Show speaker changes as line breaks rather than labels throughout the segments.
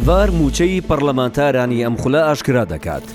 ڤار مووچەی پەڕلەمانتارانی ئەم خولە ئاشکرا دەکات.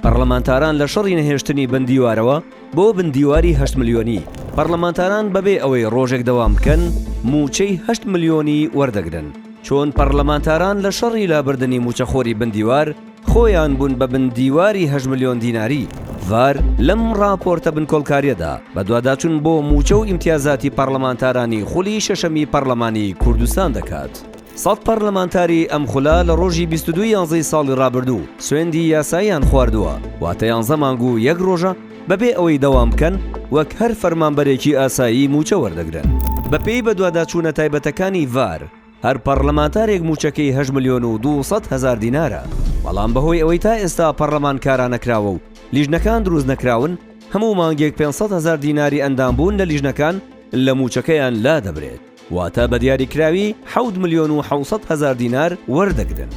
پەڕلەمانتاران لە شەڕی نەهێشتنی بندیوارەوە بۆ بندیواری هەشت ملیۆنی، پەڕلەمانتاران بەبێ ئەوەی ڕۆژێک دەوام بکەن مووچەی هەشت ملیۆنی وەردەگرن، چۆن پەڕلەمانتاران لە شەڕی لابردنی مووچەخۆری بندیوار، خۆیان بوون بە بن دیواری هەشت ملیۆن دیناری ڤار، لەم ڕاپۆرتە بنکۆڵکاریەدا بەدواداچون بۆ موچە و ئیمتیازاتی پەڕلەمانتارانی خولی شەشەمی پەڕلەمانی کوردستان دەکات. سەد پەڕلەمانتاری ئەم خولە لە ڕۆژی بیست و دوو یانزەی ساڵی ڕابردوو سوێندی یاساییان خواردووە، واتە یانزە مانگ و یەک ڕۆژە بەبێ ئەوەی دەوام بکەن وەک هەر فەرمانبەرێکی ئاسایی موچە وەردەگرن. بەپێی بەدواداچونە تایبەتەکانی ڤار، هەر پەڕلەمانتارێک مووچەکەی هەشت ملیۆن و دوو سەد هەزار دینارە، بەڵام بەهۆی ئەوەی تا ئێستا پەڕلەمان کارا نەکراوە و لیژنەکان دروست نەکراون، هەموو مانگێک پێنج سەد هەزار دیناری ئەندامبوون لە لیژنەکان لە مووچەکەیان لادەبرێت، واتە بە دیاریکراوی حەوت ملیۆن و حەوت سەد هەزار دینار وەردەگرن.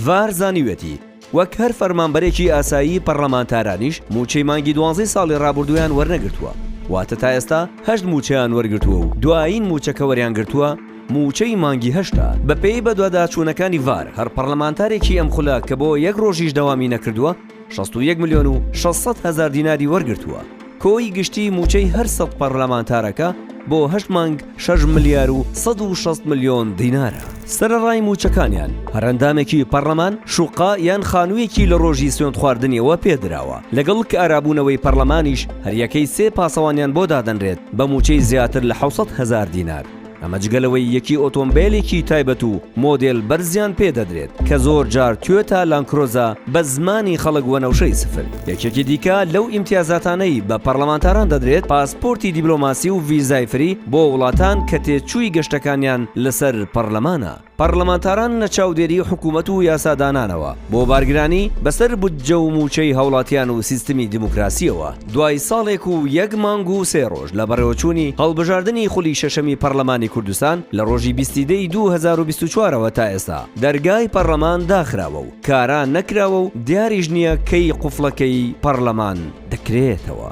ڤار زانیویەتی، وەک هەر فەرمانبەرێکی ئاسایی پەڕلەمانتارانیش مووچەی مانگی دوانزەی ساڵی ڕابوردوویان وەرنەگرتووە واتە تا ئێستا هەشت مووچەیان وەرگرتووە و دوایین مووچە کە وەریان گرتووە مووچەی مانگی هەشتە بەپێی بەدواداچوونەکانی ڤار هەر پەڕلەمانتارێکی ئەم خولە کە بۆ یەک ڕۆژیش دەوامی نەکردووە شەست و یەک ملیۆن و شەش سەد هەزار دیناری وەرگرتووە. کۆی گشتی مووچەی هەر سەد پەڕلەمانتارەکە بۆ هەشت مانگ شەش ملیار و سەد و شەست ملیۆن دینارە. سەرەڕای مووچەکانیان، هەر ئەندامێکی پەڕلەمان شوققە یان خانوویەکی لە ڕۆژی سوێندخواردنیەوە پێ دراوە، لەگەڵ کارابوونەوەی پەڕلەمانیش هەریەکەی سێ پاسەوانیان بۆ دادەنرێت بە مووچەی زیاتر لە حەوت سەد هەزار دینار. ئەمە جگە لەوەی یەکی ئۆتۆمبێلێکی تایبەت و مۆدێل بەرزیان پێ دەدرێت کە زۆر جار توێتا لانکرۆزە بە زمانی خەڵک وەنەوشەی سفر. یەکێکی دیکە لەو ئیمتیازاتانەی بە پەڕڵەمانتاران دەدرێت پاسپۆرتی دیبلۆماسی و ڤیزای فری بۆ وڵاتان کە تێچووی گەشتەکانیان لەسەر پەڕلەمانە. پەڕڵەمانتاران لە چاودێری حکوومەت و یاسادانانەوە بۆ بارگرانی بە سەر بودجە و مووچەی هاوڵاتیان و سیستمی دیموکراسییەوە دوای ساڵێک و یەک مانگ و سێ ڕۆژ لە بەڕێوەچوونی هەڵبژاردنی خولی شەشەمی پەڕڵەمانی کوردستان لە ڕۆژی بیستی دە ی دوو هەزار و بیست و چوار ەوە تا ئێستا دەرگای پەڕڵەمان داخراوە و کارا نەکراوە و دیاریش نییە کەی قوفڵەکەی پەڕڵەمان دەکرێتەوە.